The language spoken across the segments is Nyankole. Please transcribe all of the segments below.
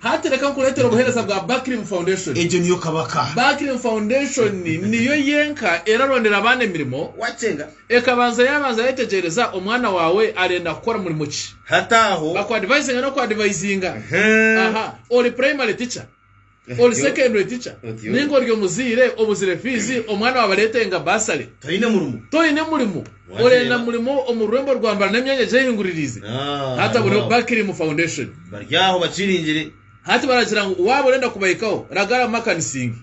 Hati reka nkureetere obuheereza bwa Barkrim Foundation. Egyo niyo kabaka. Barkrim Foundation niyo yenka erarondera abaana emirimo. Wacenga. Ekabanza yabanza yetegyereza omwana waawe arenda kukora murimo ki. Hati aho. Bakuadivisinga n'okuadivisinga. Aha. Ori primary teacher? Ori secondary teacher? Otyo. Ninga ori omuzaire obuzire fiizi, omwana waawe aretenga bursary. Toine murimo. Toine murimo. Orenda murimo omu rurembo rwa mbara n'emyanya gye ehinguririize? Hati buriho bakiri mu foundation. Bari aho bakiringire. Hati baragira ngu waaba orenda kubahikaho, ragara mu makanisingi.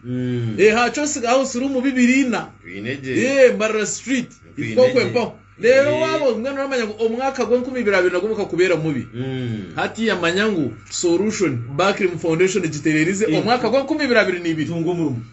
Ee, ha Chossing House Room bibiri ina. Twine gye. Ee, Mbarara Street. Twine Hika okwe gye. mpaho. Reero waaba Ee. mbwenu oramanya ngu omwaka gw'enkumi ibiri abiri nagwo gukakubeera mubi. Hati yamanya ngu solution bakiri mu foundation gitereerize omwaka gw'enkumi ibiri abiri na ibiri. Tunga omurimo.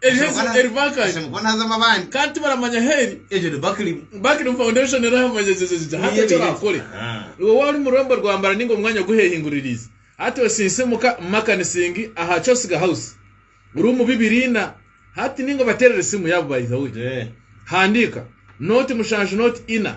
Ebihe Ese mukwana- eri bakali. ese mukwana azamu abandi kandi tibaramanya heri egyo ni bakiri bakiri foundation eri ahamanyegyegyegye hati ekyo orakore iwe waaba ori mururembo rwambara ninga omwanya oguhehinguririize hati osinse muka makanisingi aha cosiga house ruumu bibiri ina hati ninga obaterere esimu yaabo by the way handiika noti mushanju noti ina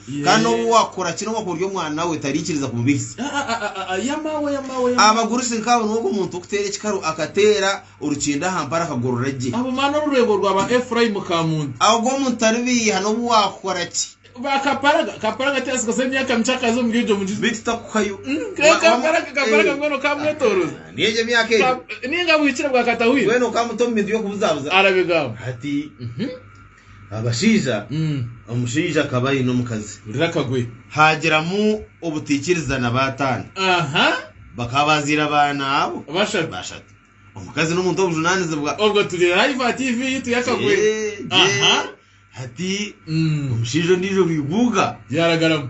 Kandi n'obu waakora ki, n'obu wakuba ori omwana we, tariikiriza kubibihisa. Abagurusi nk'abo nibo b'omuntu w'okuteera ekikaru akateera orukindo aha mpara akagorora gye. Ogwo omuntu taribiiha n'obu waakora ki. Beitu takuhayo. Ni egyo emyaka egyo. Mbwenu okamuta omu bintu by'okubuzaabuza. Hati. Abashaija, omushaija akaba aine omukazi. Hurira akagwe. Haagiramu obutaikiriza na baataano. Aha. Bakaba baazaire abaana abo. Bashatu. Bashatu. Omukazi n'omuntu w'obujunaanizibwa. Obwo turi live aha TV yaitu y'akagwe. Eeh, Aha. Hati omushaija ondiijo Rwibuuga. Yaaragaramu.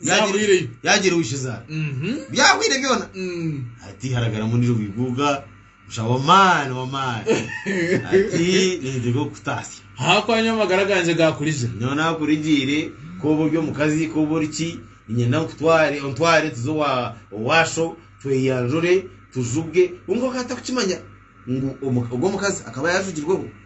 Yaahuriire. yaagira owishizaara Mhm. byahwaire byona Mm. ati haragaramu ondiijo bwiguuga busha wamaani wamaani ati ninteeka okukutaasya hakwanya amagara gangye gakurijire nyowe nakurigiire kooba ori omukazi kooba ori ki ninyenda nkutware ontware tuze owa owaasho tweyanjure tujuge kwonka akaba atarikukimanya ngu omu- ogwo omukazi akaba yaajugirweho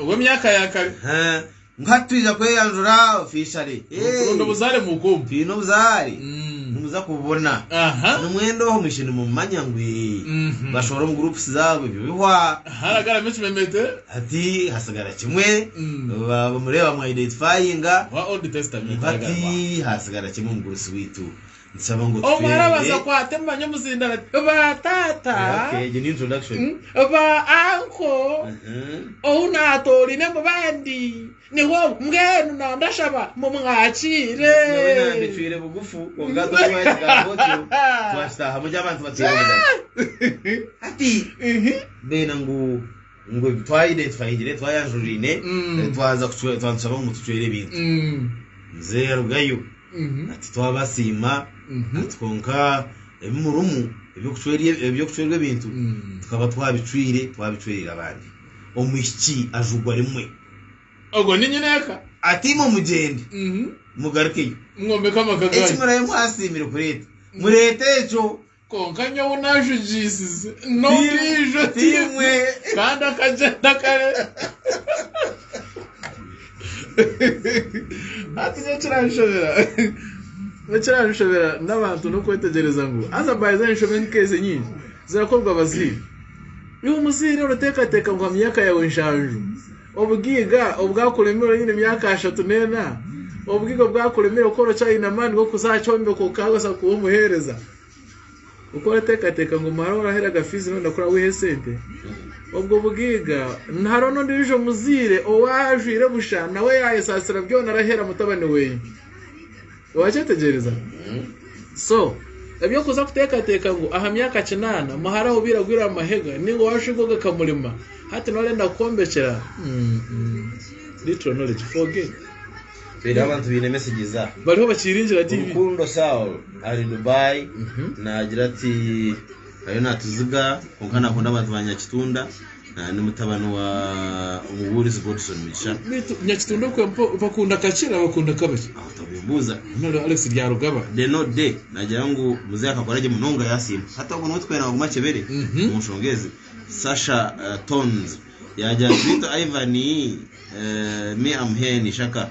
ow'emyaka ya kare. Nka titwija kweyanjura ofishale. Mukuronda obuzaare muukuumu. Twine obuzaare. Nimuza kububona. Ni mwena oho mwishe nimumumanya ngu bashohora omu groups zaabo ebyo bihwa. Haragaramu ekimemete. Hati hasigara kimwe. Bamureeba bamu identifyinga. Owa Old Testament. Hati hasigara kimwe omugurusi waitu. Omu arabaasa kwata emanya omuzinda bati ba taata, ba anko, ou naatoorine mu bandi niho ogu. Mbwenu na ndashaba mumwakiire. Ngu ebi twahire tuhahire twayanjuriraine twaza twaza tushaba ngu mutucwere ebintu. Muzeeyi arugayo ati twabasiima ati kwonka ebi murimu eby'okucwerwa ebintu tukaba twabicwire twabicwereire abandi. Omwishiki ajugwa rimwe. Ogwo ni nyina eka. Ati imwe mugyende mugarukeyo. Mwombeke amaka ganyu. Eki murabe mwasiimire kureeta mureete ekyo. Kwonka nyowe ou naajugiisize n'ondiijo ti imwe. Kandi akagyenda kare. Hati nyowe ekiranshobera ekiranshobera n'abantu n'okwetegyereza ngu haza by the way enshobe nk'ezi nyingi zirakorwa abazaire. Iwe muzaire orateekateeka ngu ha myaka yaawe nshanju Obugaiga obwakuremeire oine emyaka ashatu n'ena? Obugaiga obwakuremeire kukora okyayine amaani g'okuza aha kyombeko kukabaasa kuba omuheereza? Oku orateekateeka ngu omwana ou oraheraga fiizi nooyenda ku orawihe esente? Obwo bugaiga. Hariho n'ondiijo muzaire ou ajwaire busha nawe yaayesaasira byona arahera mutabani we. Wakyetegyereza? So, eby'okuza kuteekateeka ngu aha myaka kinaana muhara aho obaire agwire aha mahega nainga owarushwiga ogakamurema, hati nooreenda kukwombekera? Little knowledge for gain. Reero abantu baine messages aha. Bariho bakiiringira TV. Rukundo Saul ari Dubai naagira ati, Ariyo naatuziga, kwonka naakunda abantu ba Nyakitunda. Ndi mutabani wa omubuurizi Godson Mugisha. Beitu nyakitunda okwe mpa bakunda kakye na bakunda kabakye. Aho tabimbuuza. Nari Alex Byarugaba. The no day nagira ngu muzehe akakora gye munonga yasiima. Hati ogwo niwe tukwenda naguma akyebere Mhm. omu nshonga ezi. Sasha eh, Tones yagira nti beitu Ivan eh, me am here in Ishaka.